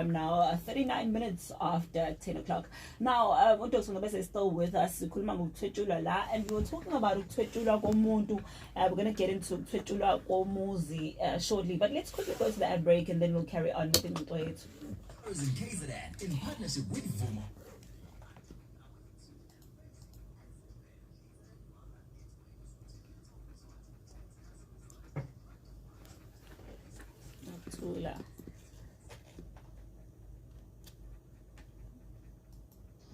I'm now uh, 39 minutes after 10 o'clock. Now, uh, uDr. Ngobese is still with us. Sikhuluma ngokuthwetshulwa la and we were talking about ukuthwetshulwa komuntu. Uh, we're going to get into ukuthwetshulwa komuzi uh, shortly. But let's quickly go to the ad break and then we'll carry on with ingxoxo yethu. In partnership with Vuma.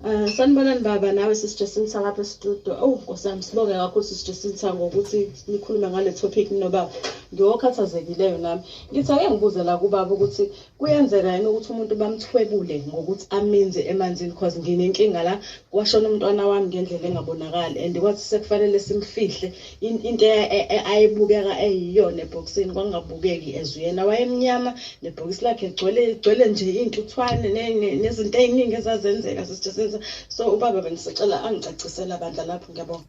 Eh, sanibonani baba nawe sisijesinisa lapha estudio owu nkosi yami sibonge kakhulu sisijesinisa ngokuthi nikhulume ngale topic nobaba ngiwokhathazekileyo nami ngithi ake ngibuze la kubaba ukuthi kuyenzeka yini ukuthi umuntu bamthwebule ngokuthi aminze emanzini cause nginenkinga la kwashona umntwana wami ngendlela engabonakali and kwathi sekufanele simfihle into e, e, e, ayebukeka eyiyona ebhokisini kwangabukeki as uyena wayemnyama nebhokisi lakhe gcwele gcwele nje iy'ntuthwane nezinto ey'ningi ezazenzeka sisithe senza so ubaba bengisicela angicacisela bandla lapho ngiyabonga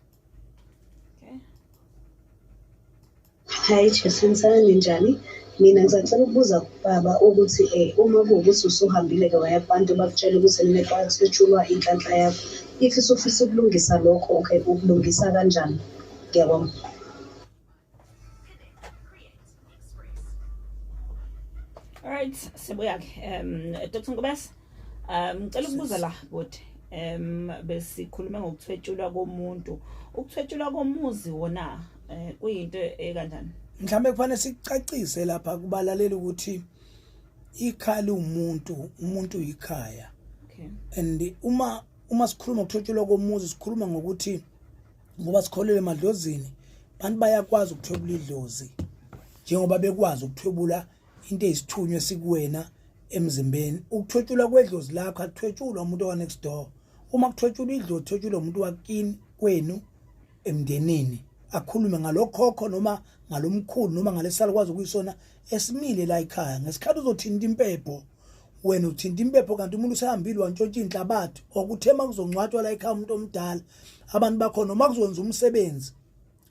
Hi Jason Sani njani? Mina ngisacela ukubuza kubaba ukuthi eh uma kuwukuthi usuhambile ke waya kubantu bakutshela ukuthi nilekwasetshulwa inhlanhla yakho. If usufisa ukulungisa lokho ke ukulungisa kanjani? Ngiyabonga. Alright, sibuya ke. Um Dr. Nkobese, um ngicela ukubuza la body. Um besikhuluma ngokuthwetshulwa komuntu. Ukuthwetshulwa komuzi wona eh kuyinto ekanjani? Mhlawumbe kufanele sicacise lapha kubalaleli ukuthi ikhaya umuntu, umuntu yikhaya. Okay. And uma uma sikhuluma ngokuthwetshulwa komuzi sikhuluma ngokuthi ngoba sikholele emadlozini abantu bayakwazi ukuthwebula idlozi njengoba bekwazi ukuthwebula into eyisithunywa sikuwena emzimbeni ukuthwetshulwa kwedlozi lakho akuthwetshulwa umuntu owanext door uma kuthwetshulwa idlozi kuthwetshulwa umuntu wakini kwenu emndenini akhulume ngalokhokho noma ngalomkhulu noma ngalesalikwazi ukuyisona esimile la ekhaya ngesikhathi uzothinta impepho wena uthinta impepho kanti umuntu usehambile wantshontsha inhlabathi okuthe uma kuzongcwatshwa la ekhaya umuntu omdala abantu bakhona uma kuzokwenza umsebenzi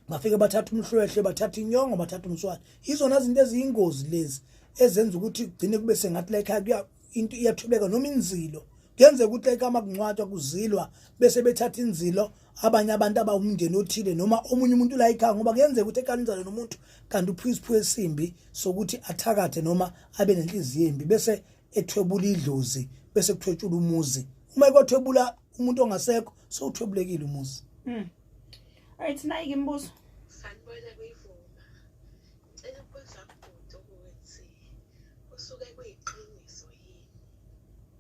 bafike bathatha umhlwehle bathatha inyongo bathatha umswane izona zinto eziyingozi lezi ezenza ukuthi kugcine kube sengathi la ekhaya kuya into iyathubeka noma inzilo kuyenzeka ukuthi la ekhaya uma kungcwatshwa kuzilwa bese bethatha inzilo abanye abantu abawumndeni othile noma omunye umuntu la ekhaya ngoba kuyenzeka ukuthi ekanizane nomuntu kanti uphiwa isiphiwo esimbi sokuthi athakathe noma abe nenhliziyo embi bese ethwebula idlozi bese kuthwetshula umuzi uma ekothwebula umuntu ongasekho sowuthwebulekile umuzi mm. ayithi nayi ke imibuzo sanibona kuyivuma ngicela ukubuza kubhuti ukuthi kusuke kuyiqiniso yini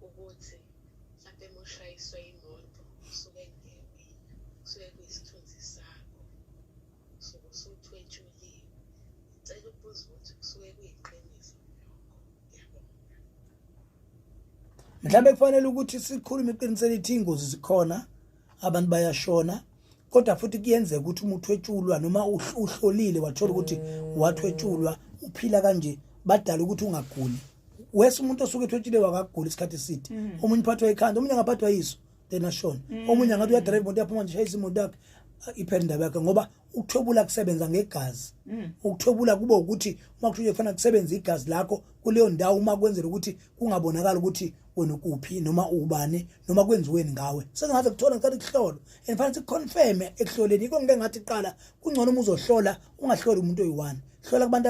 ukuthi mhlampe uma ushayiswe imoto usuke kuyewena kusuke kuyisithunzi sakho usuke usuthwetshuliwe ngicela ukubuza ukuthi kusuke kuyiqiniso mhlawumbe kufanele ukuthi sikhulume iqiniso elithi ingozi zikhona abantu bayashona kodwa futhi kuyenzeka ukuthi uma uthwetshulwa noma uhlolile wathola ukuthi wathwetshulwa uphila kanje badala ukuthi ungaguli wese umuntu osuke ethotshile wakagula isikhathi eside mm. omunye uphathwa ikhanda omunye angaphathwa yiso then ashone mm. omunye angathi uyadrive imoto yaphuma nje shayisa imoto yakhe iphela indaba yakhe ngoba ukuthobula kusebenza ngegazi mm. ukuthobula kube ukuthi uma kuthule kufanele kusebenze igazi lakho kuleyo ndawo uma kwenzela ukuthi kungabonakala ukuthi wena ukuphi noma ubani noma kwenziweni ngawe sengaze kuthola ngicela ukuhlolo and fanele siconfirm ekuhloleni yiko ngike ngathi qala kungcono uma uzohlola ungahloli umuntu oyi-one hlola kubantu